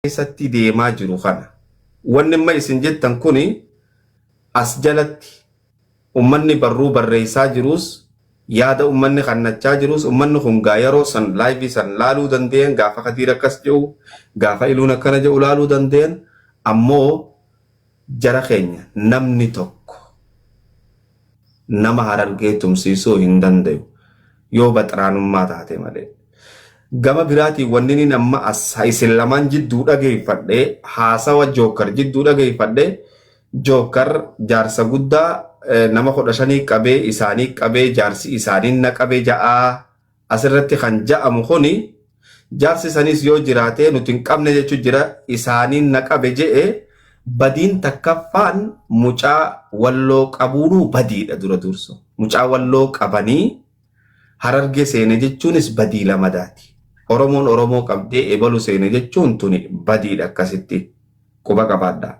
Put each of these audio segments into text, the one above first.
keessatti deemaa jiru kana. Wanni amma isin jettan kun as jalatti ummanni barruu barreessaa jiruus yaada ummanni kannachaa jiruus ummanni kun gaa yeroo san laayivii san laaluu danda'een gaafa kadiir akkas jedhu gaafa iluun akkana jedhu laaluu danda'een ammoo Jara keenya namni tokko nama Harargee tumsiisuu hin dandayu yoo baxraanummaa taate malee. Gama biraatiin wanninin amma as isin lamaan jidduu dhageeffadhe haasawa Jookkar jidduu dhageeffadhe Jookkar jaarsa guddaa nama kudha shanii qabee isaanii qabee jaarsi isaanii na qabe ja'aa. Asirratti kan ja'amu kuni jaarsi saniis yoo jiraatee nuti hin qabne jechu jira isaaniin na qabe je'e badiin takkaffaan mucaa walloo qabuunuu badiidha dura dursa mucaa walloo qabanii hararge seene jechuunis badii lamadaati oromoon oromoo qabdee ebalu seene jechuun tuni badiidha akkasitti quba qabaadha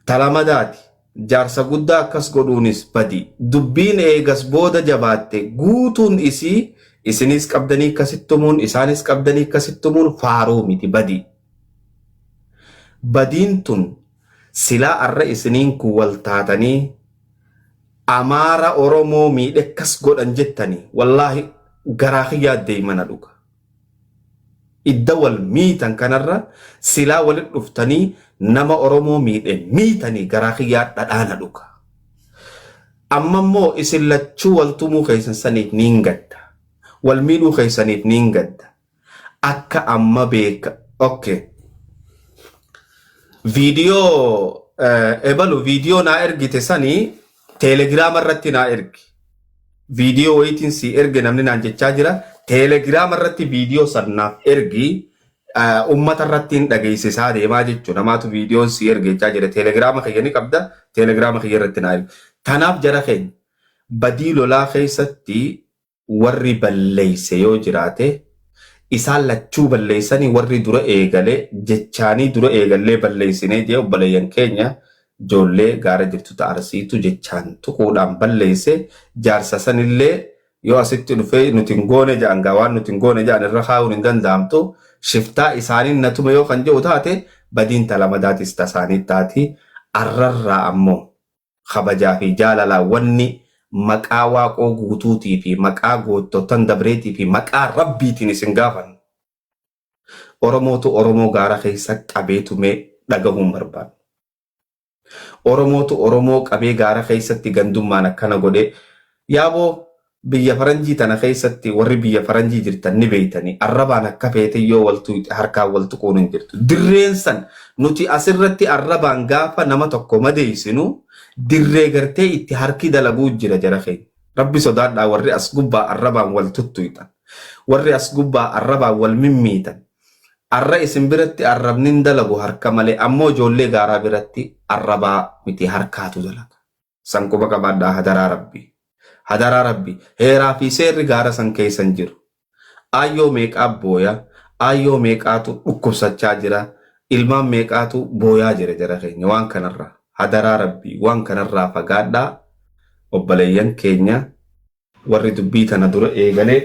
talamadaati Jaarsa guddaa akkas godhuunis badi. Dubbiin eegas booda jabaatte guutuun isii isiniis qabdanii akkasitti tumuun, isaanis qabdanii akkasitti tumuun faaruu miti, badi. Badiin tun silaa arra isiniin kun wal taatanii Amaara Oromoo miidhe akkas godhan jettanii wallaahi garaa kiyyaa deymana dhuga. Idda wal miitan kanarra silaa walit dhuftanii nama oromoo miidhe miitanii garaa kiyyaa dhadhaa na dhuka. Amma immoo isin lachuu wal tumuu keessan saniif niin gadda. Wal miidhuu keessaniif niin gadda. Akka amma beeka ok viidiyoo ebalu viidiyoo naa ergite sani Teelegiraama irratti naa ergi. Viidiyoo wayiitiin sii erge namni naan jechaa jira. Teelegiraama irratti viidiyoo san naaf ergi. eh, Uummata irratti hin dhageessisaa deemaa jechuun namaatu viidiyoon sii erge jechaa jira. Teelegiraama kiyya ni qabda. Teelegiraama kiyya irratti naa ergi. Tanaaf jara keenya badii lolaa keessatti warri balleeyse yoo jiraate isaan lachuu balleeysanii warri dura eegale jechaanii dura eegallee balleeysinee jee obboleeyyan keenya joollee gaara jirtu ta arsiitu jechaan tuquudhaan balleeyse jaarsa sanillee yoo asitti dhufee nuti hin goone ja'an gaa waan nuti hin goone ja'an irra kaayuun hin danda'amtu shiftaa isaaniin na tume yoo kan je'u taate badiin ta lamadaatis ta isaanii taati arrarraa ammoo kabajaa fi jaalalaan wanni maqaa Waaqoo guutuutii fi maqaa goottottan dabreetii fi maqaa Rabbiitiin isin gaafannu, Oromootu Oromoo gaara keessa qabee tume dhagahuu hin barbaannu. Oromootu Oromoo qabee gaara keessatti gandummaan akkana godhe, yaaboo Biyya faranjii tana keessatti warri biyya faranjii jirtan ni beektanii arrabaan akka feete yoo wal tuqxe harkaan wal tuquun hin jirtu. Dirreen san nuti as irratti arrabaan gaafa nama tokko madeessinu dirree gartee itti harki dalaguu jira jara keenya. Rabbi sodaadhaa warri as gubbaa arrabaan wal tuttuqxan. Warri as gubbaa arrabaan wal mimmiitan. Arra isin biratti arrabni hin dalagu harka malee ammoo ijoollee gaaraa biratti arrabaa miti harkaatu dalaga. San quba qabaadhaa hadaraa rabbi. Hadaraa rabbi. Heeraa fi seerri gaara san keessa hin jiru. Aayyoo meeqaa booya, aayyoo meeqaatu dhukkubsachaa jira, ilmaan meeqaatu booyaa jira jara keenya waan kanarraa. Hadaraa rabbi waan kanarraa fagaadhaa obbaleeyyan keenya warri dubbii tana dura eegale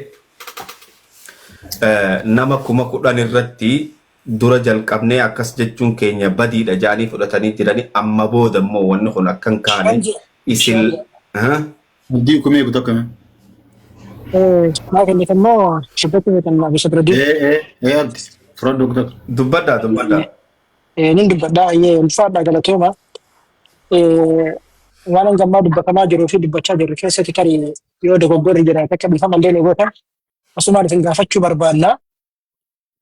nama kuma kudhan irratti dura jalqabnee akkas jechuun keenya badiidha jaanii fudhatanii jiranii amma booda immoo wanni kun akkan kaane isin Abdii kumee guutuu akkamii? Maaf inni immoo shibbatti beekan maaf isa bira deemu. Ee ee ee abdi fudhadhu guutuu. Dubbadhaa dubbadhaa. Eh, Nin dubbadha ayyee ulfaadha galatooma. Eh, Waan hanga ammaa dubbatamaa jiruu fi dubbachaa jirru keessatti tarii yoo dogoggorri jiraate akka dhiifama illee ni goota. Asumaan isin gaafachuu barbaanna.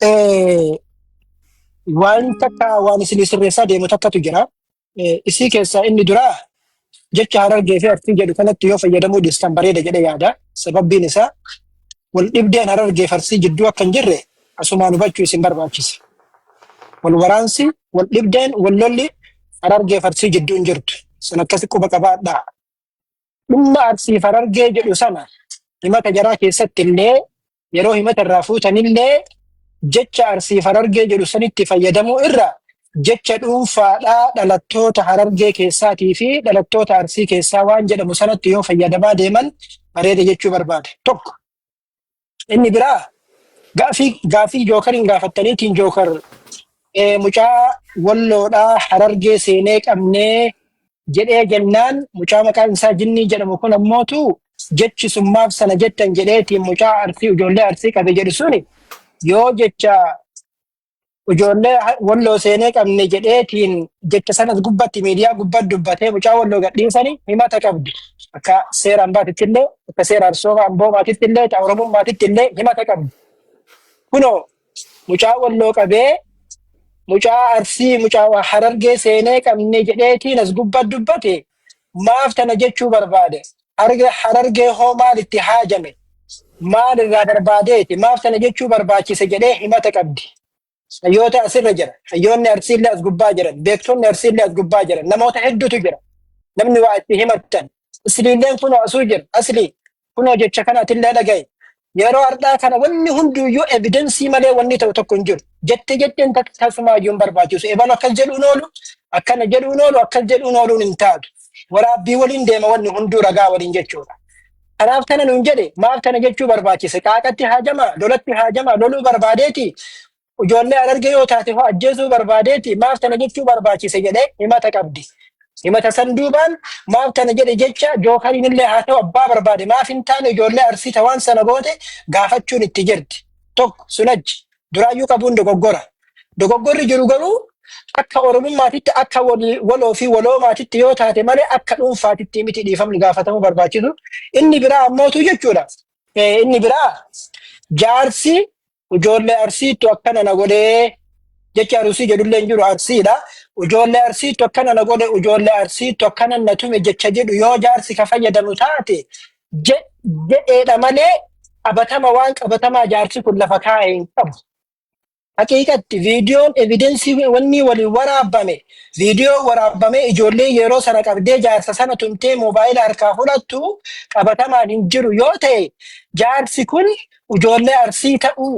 Eh, Waan takka waan isin sirreessaa deemu takkatu jira. Eh, Isii keessaa inni duraa jecha harargee fi artii jedhu kanatti yoo fayyadamuu dhiistan bareeda jedhe yaada. Sababbiin isaa wal dhibdeen harargee fi arsii jidduu akka hin jirre asumaan hubachuu isin barbaachisa. Wal waraansi, wal dhibdeen, wal lolli harargee fi arsii jidduu hin jirtu. Sun akkasi quba qabaadhaa. Dhimma arsii fi harargee jedhu sana himata jaraa keessatti illee yeroo himata irraa fuutanillee jecha arsiif harargee jedhu sanitti fayyadamuu irra jecha dhuunfaadhaa dhalattoota harargee keessaatii fi dhalattoota arsii keessaa waan jedhamu sanatti yoo fayyadamaa deeman bareeda jechuu barbaade. Tokko inni biraa gaafii gaafii jookariin gaafattaniitiin jookar eh, mucaa walloodhaa harargee seenee qabnee jedhee jennaan mucaa maqaan isaa jinnii jedhamu kun ammootu jechi sun maaf sana jettan jedheetiin mucaa arsii ijoollee arsii qabe jedhu suni yoo jecha ijoollee ha- walloo seenee qabne jedheetiin jecha sanas gubbatti miidiyaa gubbatti dubbatee mucaa walloo gadhiisanii himata qabdi. Akka seera ambaatitti illee akka seera arsooma amboomaatitti illee akka oromummaatitti illee himata qabdi. Kunoo mucaa walloo qabee mucaa arsii mucaa waa harargee seenee qabne jedheetiin as gubba dubbate maaf tana jechuu barbaade harga harargee hoo maal itti haajame maal irraa barbaadeeti maaf tana jechuu barbaachise jedhee himata qabdi hayyoota asirra jira hayyoonni arsiillee as gubbaa jiran beektonni arsiillee as gubbaa jiran namoota hedduutu jira namni waa itti himattan asliilleen kun asuu jira aslii Kunoo jecha kana atillee dhaga'i. Yeroo har'aa kana wanni hunduyyuu evidensii malee wanni ta'u tokko hin jiru. Jette jetteen tak- tasumaayyuu hin barbaachisu. Ebalu akkas jedhuun oolu, akkana jedhuun oolu, akkas jedhuun ooluun hin taatu. Waraabbii waliin deema wanni hunduu ragaa waliin jechuudha. Kanaaf kana nuun jedhe maaf kana jechuu barbaachise qaaqatti haajama lolatti haajama loluu barbaadeeti Ijoollee Harargee yoo taate hoo ajjeesuu barbaadeeti maaf tana jechuu barbaachise jedhee himata qabdi. Himata san duubaan maaf tana jedhe jecha jookariin illee haa ta'u abbaa barbaade maaf hin taane ijoollee arsii ta waan sana goote gaafachuun itti jirti. Tokko sun achi duraayyuu qabuun dogoggora. Dogoggorri jiru garuu akka oromummaatitti akka wal- waloo fi waloomaatitti yoo taate malee akka dhuunfaatitti miti dhiifamni gaafatamuu barbaachisu. Inni biraa ammootu jechuudha. Eh, Inni biraa jaarsi Ijoollee arsiittu akkana na godhee. Jechi arusii jedhullee hin jiru arsiidha. Ijoollee arsiittu akkana na godhe ijoollee arsiittu akkana na tume jecha jedhu yoo jaarsi ka fayyadamu taate je- jedheedha malee qabatama waan qabatamaa jaarsi kun lafa kaa'e hin qabu. Haqiiqatti viidiyoon evidensii wanni waliin waraabame viidiyoo waraabamee ijoollee yeroo sana qabdee jaarsa sana tumtee moobaayila harkaa fudhattu qabatamaan hin jiru yoo ta'e jaarsi kun ijoollee arsii ta'uu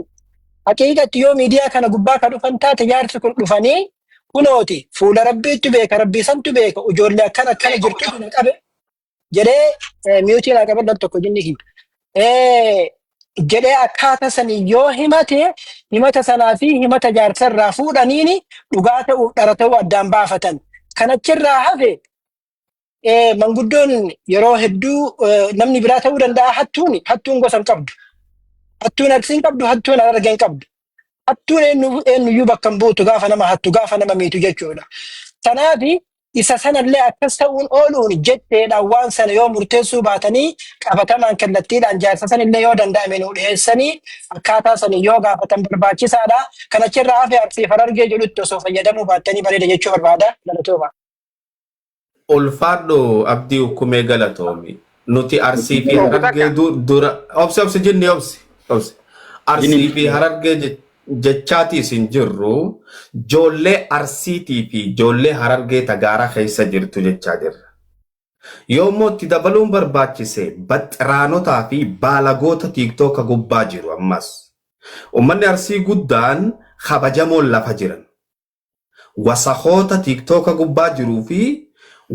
haqiiqatti yoo miidiyaa kana gubbaa ka dhufan taate jaarsi kun dhufanii kunooti fuula rabbiitti beeka rabbii santu beeka ijoollee akkan akkana jirtu na qabe jedhee eh, miyuutii naa qabadhan tokko jinni hin Eh, jedhee akkaata sanii yoo himate himata sanaa fi himata jaarsa irraa fuudhaniini dhugaa ta'uuf dhara ta'uu addaan baafatan kan achirraa hafe Eh, manguddoon yeroo hedduu eh, namni biraa ta'uu danda'a hattuuni hattuun gosa hin qabdu hattuun aksi hin qabdu hattuun arga hin qabdu hattuun eenyu eenyuyyuu bakka hin buutu gaafa nama hattu gaafa nama miitu jechuudha tanaafi isa sanallee akkas ta'uun ooluun jetteedhaan waan sana yoo murteessuu baatanii qabatamaan kallattiidhaan jaarsa sanillee yoo danda'ame nu dhiyeessanii akkaataa sana yoo gaafatan barbaachisaadha kan achirraa hafe arsii farargee jedhutti osoo fayyadamuu baattanii bareeda jechuu barbaada galatoomaa. Ulfaadhu Abdii Ukkumee galatoomi. Nuti Arsii fi Harargee du- dura obsi obsi jinni obsi obsi Arsii fi Harargee je- jechaatiis hin jirru joollee Arsiitii fi joollee Harargee tagaara keessa jirtu jechaa jirra. Yoommoo itti dabaluun barbaachise baxxiraanotaa fi baalagoota tiiktooka gubbaa jiru ammas. Ummanni Arsii guddaan kabajamoon lafa jiran. Wasakoota tiktoka gubbaa jiruu fi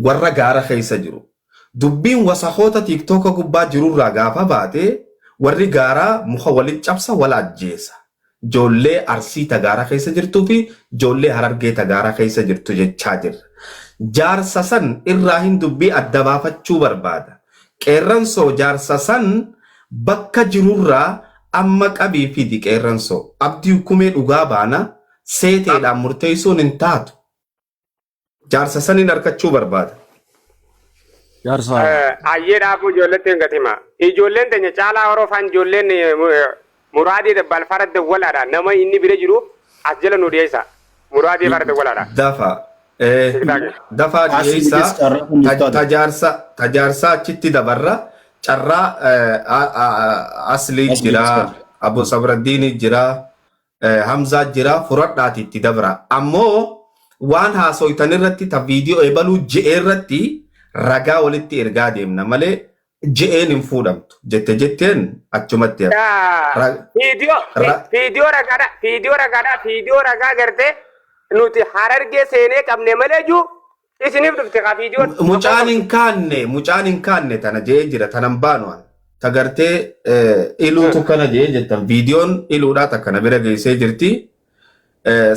warra gaara keessa jiru. Dubbiin wasakoota tiktoka gubbaa jirurraa gaafa baate warri gaaraa muka walitti cabsa wal ajjeesa. Joollee Arsii ta gaara keessa jirtuu fi joollee Harargee ta gaara keessa jirtu jechaa jirra. Jaarsa san irraahin dubbii adda baafachuu barbaada. Qeerransoo jaarsa san bakka jirurraa amma qabii fidi qeerransoo. Abdii Ukkumee dhugaa baana seeteedhaan murteessuun hin taatu. Jaarsa saniin arkachuu barbaada. Jaarsa. Ayyee dhaabuu ijoolletti hin gatima. Ijoolleen teenya caalaa horofaan ijoolleen muraadii dabbal farda walaadha. Nama inni bira jiru as jala nu dhiyeessa. Muraadii farda walaadha. Dafa. Dafa dhiyeessaa tajaarsa tajaarsaa achitti dabarra carraa aslii jira abbo sabraddiini jira Eh, Hamzaa jira furadhaati itti dabra. Ammoo waan haasoytan irratti ta viidiyoo ebaluu je'e irratti ragaa walitti ergaa deemna malee je'een hin fuudhamtu. Jette jetteen achumatti hafa. Daa, Ra- Viidiyoo vi- ra- viidiyoo ragaadha viidiyoo ragaadha viidiyoo ragaa gartee nuti harargee seenee qabne malee juu Isiniif dhufte kaa viidiyoon. Mucaan hin kaanne mucaan hin kaanne tana jee jira tanan baanu an ta gartee iluutu kana jee jettan viidiyoon iluudhaa takka na bira geessee jirti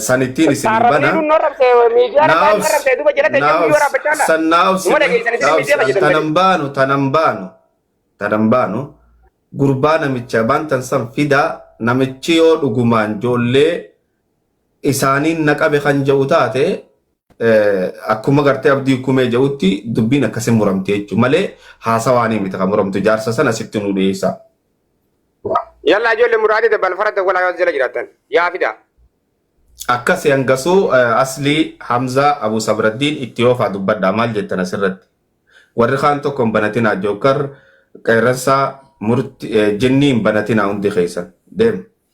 sanittiin isin bana. Arrabni iluun narrabse miidiyaa irraa narrabse duuba jalatti ejjennuu yoo raabbachaa dha. San naawus Uma dhageessan isin miidiyaa irra jedhan tanan baanu tanan baanu tanan baanu gurbaa namicha bantan san fidaa namichi yoo dhugumaan joollee isaaniin na qabe kan jedhu taate akkuma gartee abdii kumee jedhutti dubbiin akkasii muramte jechuudha malee haasawaanii miti kan muramtu jaarsa sana sitti nu dhiyeessa. Yalla ijoollee muraadii dabbal fara dawwalaa yoo jala jiraatan yaa fidaa. Akkas hangasuu aslii Hamzaa Abu Sabraddiin itti oofaa dubbadhaa maal jettan asirratti. Warri kaan tokko hin banatinaa jookar qeerransaa murti jinnii hin banatinaa hundi keessan deema.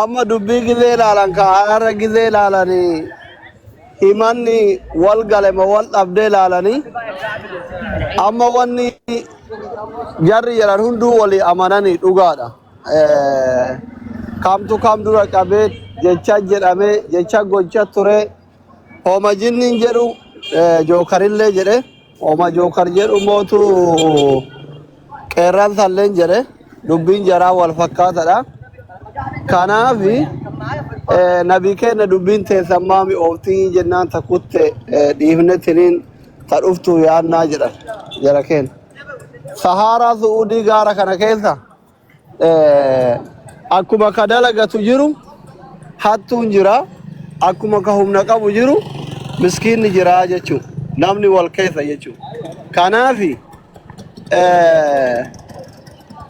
Amma dubbii gizee ilaalan ka har'a gizee ilaalanii himanni wal gale ma wal dhabdee ilaalanii amma wanni jarri jedhan hunduu walii amananii dhugaadha. Eh, Kamtu kam dura qabee jecha jedhamee jecha gocha turee Homa jinniin jedhu eh, jookarillee jedhe homa jookar jedhu mootu qeerraan salleen jedhe dubbiin jaraa wal fakkaatadha. Kanaaf eh, nabii keenya dubbiin teessan maami ooftii jennaan ta kutte eh, dhiifne tiniin ta dhuftu yaannaa jedhan jara keenya. Sahaaraa Su'uudii gaara kana keessa Akkuma ka dalagatu jiru hattuun jira. Akkuma ka humna qabu jiru miskiinni jira jechuudha. Namni wal keessa jechuudha. Kanaaf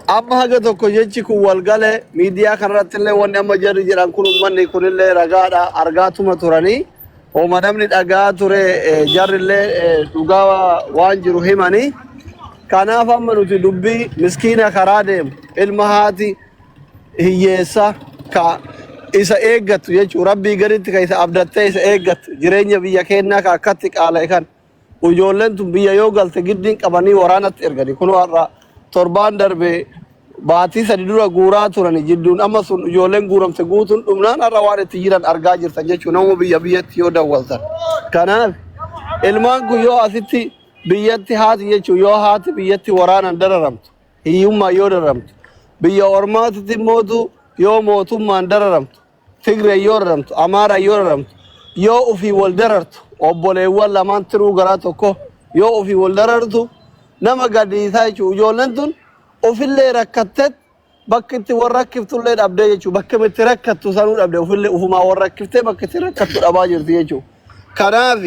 amma haga tokko jechi kun wal gale miidiyaa kanarratti illee wanni amma jarri jedhan kun uummanni kunillee ragaadha argaatuma turanii. Homa namni dhaga'aa ture jarrillee dhugaa waan jiru himanii kanaaf amma nuti dubbii miskiina karaa deemu ilma haati hiyyeessa ka isa eeggattu jechuun rabbii gaditti ka isa abdattee isa eeggattu jireenya biyya keenyaa ka akkatti qaala'e kan Ujoolleen tun biyya yoo galte giddiin qabanii waraanatti ergani. Kunoo har'a torbaan darbe baatii sadi dura guuraa turani jidduun amma sun ujoolleen guuramte guutuun dhumnaan har'a waan itti jiran argaa jirtan jechuun nama biyya biyyatti yoo dawwaltan. Kanaaf ilmaan kun yoo asitti biyyatti haati jechuun yoo haati biyyatti waraanan dararamtu hiyyummaan yoo dararamtu biyya ormaatitti mootu yoo mootummaan dararamtu Tigree yoo raramtu, Amaaraa yoo raramtu, yoo ofii wal darartu, obboleewwan lamaan tiruu garaa tokko yoo ofii wal darartu nama gaddisiisaa jechuudha. Ijoolleen tun ofillee rakkattet bakki itti wal rakkiftullee dhabdee jechuudha. Bakki itti rakkattu sanuu dhabde ofillee ofumaa wal rakkiftee bakki itti rakkattu dhabaa jirti jechuudha. Kanaaf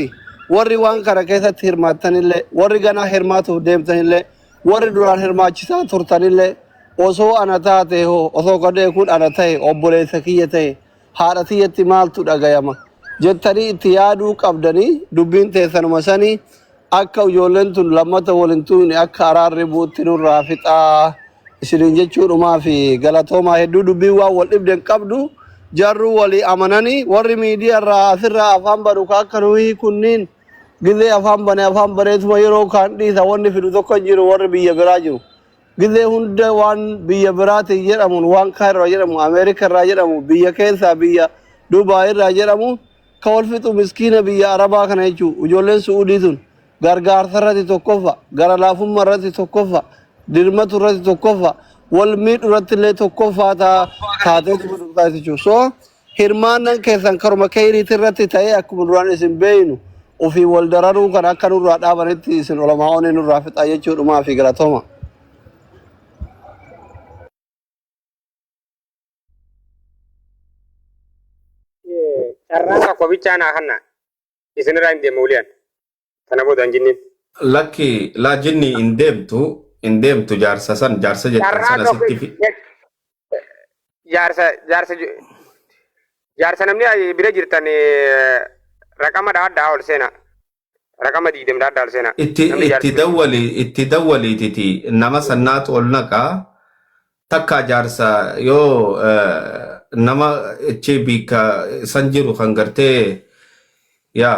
warri waan kana keessatti hirmaattanillee warri ganaa hirmaatuuf deemtanillee Warri duraan hirmaachisaa turtanillee osoo ana taatee hoo, osoo gadhee kun ana tahe, obboleessa kiyya tahe, haadha tiyyatti maaltu dhagayama? jettanii itti yaaduu qabdanii dubbiin teessanuma sanii akka ijoolleen tun lammata wal hin tuuyne akka araarri bu'utti nurraa fixaa isiniin jechuudhumaafi galatoomaa hedduu dubbiin waan wal dhibde hin qabdu jarruu walii amananii warri miidiyaa irraa asirraa afaan banu ka akka nuhii kunniin Gizee afaan bane afaan baneetuma yeroo kaan dhiisa wanni fidu tokko hin jiru warri biyya biraa jiru. Gizee hunda waan biyya biraatiin jedhamuun waan kaan irraa jedhamu Ameerika irraa jedhamu biyya keessaa biyya Dubaay irraa jedhamu ka wal fixu miskiina biyya Arabaa kana jechuu ijoolleen Su'uudii tun gargaarsa irratti tokkoffa gara laafummaa irratti tokkoffa dirmatu irratti tokkoffa wal miidhu irratti illee tokkoffaa taa taatee jechuudha. So Hirmaannan keessan karuma keyriiti irratti ta'ee akkuma duraan isin beeynu ofiin wal dararuu kana akka nurraa dhaabanitti isin olamaa'ooni nurraa fixaa jechuu dhumaa fi galatoma. Carraa tokko bichaa naa hanna isinirraa hin deema wuliyaan. Kana booda hin jinneen. Lakki laa jinni hin deemtu hin deemtu jaarsa san jaarsa jettan Carraa sana tokko sitti fi jaarsa jaarsa ju- jaarsa namni ay- bira jirtan eh, raqama dhaadhaa ol seena. Raqama diidem dhaadhaa ol seena. itti Namni jaarsa itti bira jirtu. dawwali itti dawwaliititi nama sannaatu ol naqa takka jaarsa yoo eh, nama ichi biika san jiru kan gartee yaa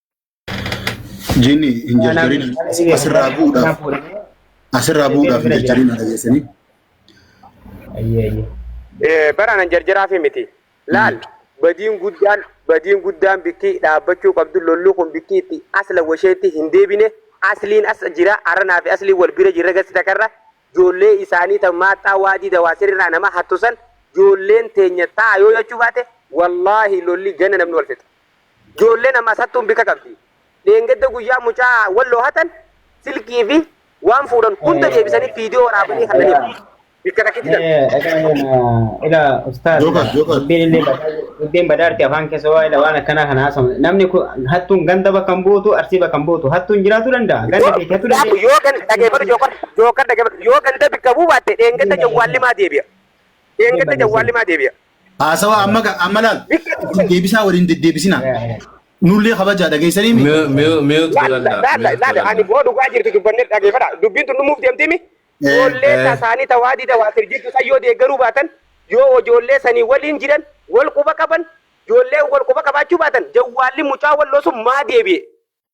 Jinni hin jarjarin asirraa bu'uudhaaf asirraa bu'uudhaaf hin jarjarin na dhageessanii. Ayyee ayyee. Eh, bara nan jarjaraafi miti. Laal badiin guddaan badiin guddaan bikki dhaabbachuu qabdu lolli kun bikki itti asla washeetti hin deebine asliin as jira aranaa fi asliin wal bira jirra gasi takarra joollee isaanii tan maaxxaa waadii dawaa sirraa nama hattusan joolleen teenya ta'a yoo jechuu baate wallaahi lolli gana namni wal fixa. Joolleen ammas hattuun bika qabdi. Dheengadda guyyaa mucaa Walloo hatan silkii fi waan fuudhan hunda deebisanii viidiyoo waraabanii kannaniif. Bikka takkitti tan. Ila ustaaz Joker, Joker. dubbiin illee badaa- dubbiin badaarti afaan keessa waa ila waan akkanaa kana haasofne namni kun hattuun ganda bakka hin buutu arsii bakka hin buutu hattuun jiraachuu danda'a ganda beekee hattuu Gaafu danda'a. yoo ganda dhageeffatu jookar jookar dhageeffatu yoo ganda bikka buu baatte dheengadda jawwaallimaa deebi'a. Dheengadda jawwaallimaa deebi'a. Haasawa amma ga- amma laal itti deebisaa waliin deddeebisina. Nullee kabajaa dhageessanii mi? Mute- mute- mute Laala godhadhaa, laala mute laala ani godhadhaa. boo dhugaa jirtu dubbanne dhageeffadha. Dubbiin tun dhumuuf deemtimi. Eh, Ijoollee eh. tasaanii tawaa dida waa sirjirtu san yoo deeggaruu baatan yoo ijoollee sanii waliin jiran wal quba qaban ijoollee wal quba qabaachuu baatan jawwaalli mucaa walloo sun maa deebi'e.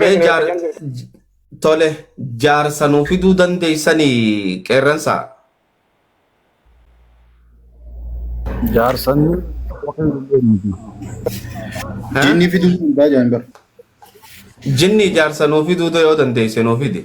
Mee jaar tole jaarsa nuu fiduu dandeessanii qeerransaa. Jaarsan Jinni fiduu hin baajaan bara. Jinni jaarsa nuu fiduu yoo dandeesse nuu fidi.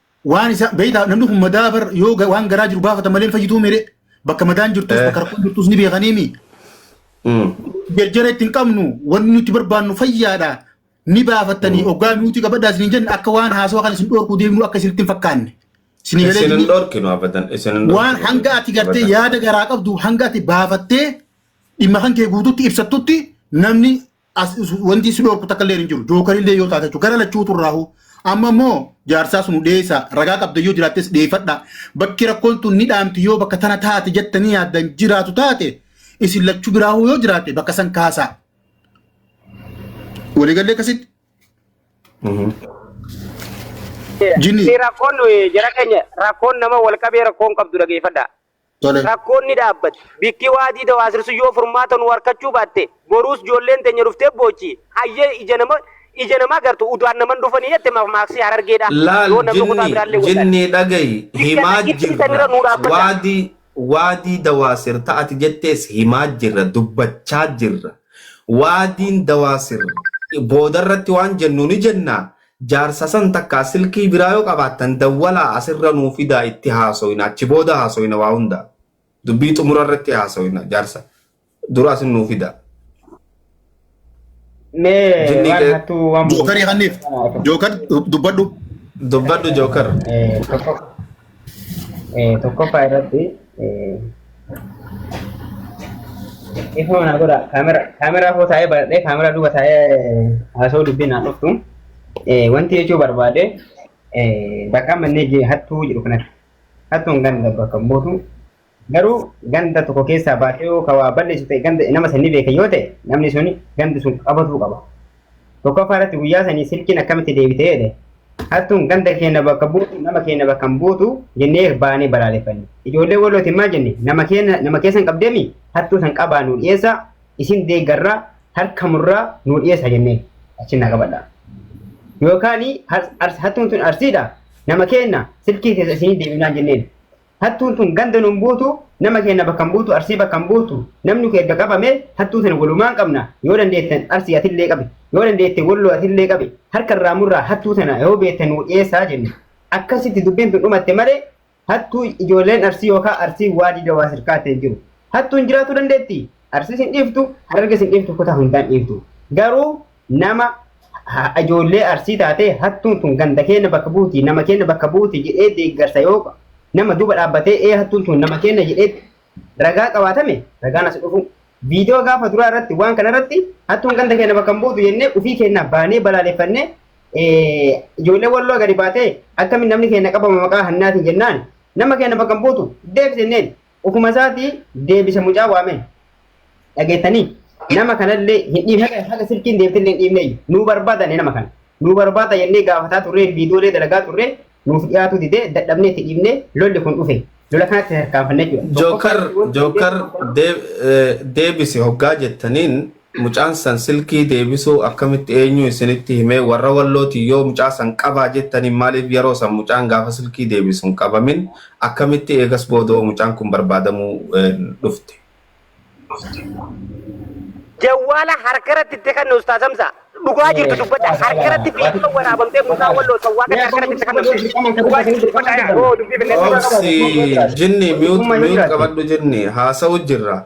waan isa beektaa namni kun madaa bar yoo ga- waan garaa jiru gaafata malee hin fayyituu mire bakka madaan jirtus Eh. bakka rakkoon jirtus ni beekaniimi Mm. jarjara itti hin qabnu wanni nuti barbaannu fayyaadha ni baafattanii oggaa nuti qabadhaa isin hin jenne akka waan haasawaa kan isin dhoorkuu deemnu akka isinitti hin fakkaanne isin Isin hin galee dhorkinu abadan. Isin hin waan dhorkinu. hanga ati gartee Abadan. yaada garaa qabdu hanga ati baafattee dhimma kan kee guututti ibsattutti namni as- is- wanti isin dhorku takka illee hin jiru jookar illee yoo taate jechuudha gara lachuutu irraahu amma immoo jaarsaa sun dhiyeessa ragaa qabda yoo jiraattes dhiyeeffadha bakki rakkoon tun ni dhaamti yoo bakka tana taate jettanii yaaddan jiraatu taate isin lachuu biraahu yoo jiraate bakka san kaasaa waliigallee akkasitti Jini. Si rakkoon nuyi jara keenya rakkoon nama wal qabee rakkoon qabdu dhageeffadha. Tole. Rakkoon ni dhaabbata. Bikki waadii dawaasirsu yoo furmaata nuu harkachuu baatte boruus joolleen teenya dhuftee boochi. Hayyee ija nama ija namaa gartu udaan naman dhufanii jette mamaaksi harargeedha. Laal Yoo namni kutaa jinni biraallee wallaale. jinni dhagayi Bikka himaa dhagittii jirra sanirra nuu dhaabbadha. waadii waadii dawaasir ta ati jettees himaa jirra dubbachaa jirra waadiin dawaasir boodarratti waan jennu ni jenna Jaarsa san takkaa silkii biraa yoo qabaattan dawwalaa asirra nuu fidaa itti haasoyna achi booda haasoyna waa hundaa dubbii xumura irratti haasoyna jaarsa dura asin nuu fidaa. Mee Jinni waan kee- hattuu waan Jookar yakanniif. Jookar dubbadhu. Dubbadhu Jookar. Eh, tokko tokkoffaa irratti ifuma naa godha kaamera kaameraa koo taa'ee baradhee kaameraa duuba taa'ee haasoo dubbii naa dhuftu wanti jechuu barbaade bakka amma inni hattuu jedhu kanatti hattuun kan bakka buutu Garuu ganda tokko keessaa baasee yoo ka waa balleessu ta'e ganda nama san ni beeka yoo ta'e namni suni ganda sun qabatuu qaba. Tokkoffaa irratti guyyaa sanii silkiin akkamitti deebite jedhe hattuun ganda keenya bakka buutu nama keenya bakka hin buutu jennee baanee balaaleffanne. Ijoollee walootiin maal jenne nama keenya nama keessan qabdeemi hattuu san qabaa nu dhiyeessaa isin deeggarraa harka murraa nu dhiyeessaa jennee achi na qabadha. Yookaan hattuun tun arsiidha nama keenya silkii keessa isinii deebinaan jenneen. Hattuun tun ganda nun buutu, nama keenya bakka hin buutu, arsii bakka hin buutu. Namni kee erga qabamee hattuu tana walumaan qabna. Yoo dandeettan arsii atillee qabi. Yoo dandeette walloo atillee qabi. Harka irraa murraa hattuu tana yoo beektan nuu dhiyeessaa jenne. Akkasitti dubbiin tun dhumatte malee hattuu ijoolleen arsii yookaan arsii waadii dawaa sirkaatti hin jiru. Hattuun jiraachuu dandeetti. Arsiis hin dhiiftu, hararges hin dhiiftu, kutaa hundaan dhiiftu. Garuu nama ijoollee arsii taatee hattuun tun ganda keenya bakka buuti nama keenya bakka buuti jedhee deeggarsa yoo nama duuba dhaabbatee ee hattuun tun nama keenya jedhee ragaa qabaatame ragaan as dhufu. Viidiyoo gaafa duraa irratti waan kana irratti hattuun ganda keenya bakka hin buutu jennee ofii keenya baanee balaaleffannee ijoollee walloo gadi baatee akkamiin namni keenya qabama maqaa hannaatiin jennaan nama keenya bakka hin buutu deebisenneen Ofuma isaatii deebisa mucaa waamee. Dhageettanii? Nama kanallee hin dhiibne haga haga silkiin deebitellee hin dhiibne nuu barbaadane nama kana. Nuu barbaada jennee gaafataa turree viidiyoolee dalagaa turree nuuf dhiyaatuu didee dadhabnee itti dhiibnee lolli kun dhufe. Lola kanatti tarkaanfanne jechuudha. Jookar Tokkoffaa- Jookar deeb- eh, deebisi hoggaa jettaniin Mucaan san silkii deebisuu akkamitti eenyuu isinitti himee warra wallootii yoo mucaa san qabaa jettaniin maaliif yeroo san mucaan gaafa silkii deebisu hin qabamin akkamitti eegas boodoo mucaan kun barbaadamuu dhufte. Jawwaala harkaratti itti kenne ustaaz Hamza. Dhugaa jirtu dubbadha. Harkaratti viidiyoo waraabamtee mucaa walloo sawwaa kan harkaratti itti kennamte. Dhugaa jirtu dubbadha. Yoo dubbii bineensa Obsi jinni mute mute qabadhu jinni haasa'u jirra.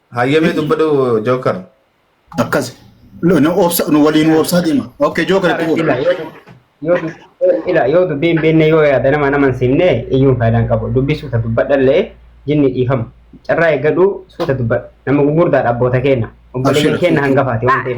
Hayyamee dubbadhu Jookar. Akkas. Lo- nu obsa- nu waliin nu obsaa deema. Okay, Joker itti fufi. Ila yoo dub- yoo dub- ila yoo dubbii hin beekne yoo yaada nama nama hin simne iyyuu faayidaa hin qabu. Dubbii suuta dubbadhallee jinni dhiifama. Carraa eeggadhu suuta dubbadha. Nama gurguddaadha abboota keenya. Obboleeyyan Abshira. keenya hangafaati waan ta'eef.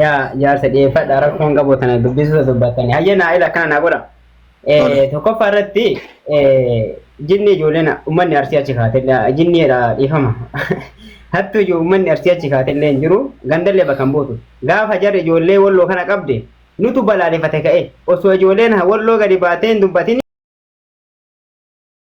yaa jaarsa dhiyeeffadha rakkoo hin qabu tana dubbisuusa dubbattanii hayyee naa ila akkana naa godha Tole. Eh, tokkoffaa irratti eh, jinni ijoolleen ummanni arsii achi kaatellee jinniidha dhiifama hattu ijoo ummanni arsii achi kaatellee hin jiru gandallee bakka hin buutu gaafa jarri ijoollee walloo kana qabde nutu balaalefate ka'e osoo ijoolleen walloo gadi baatee hin dubbatin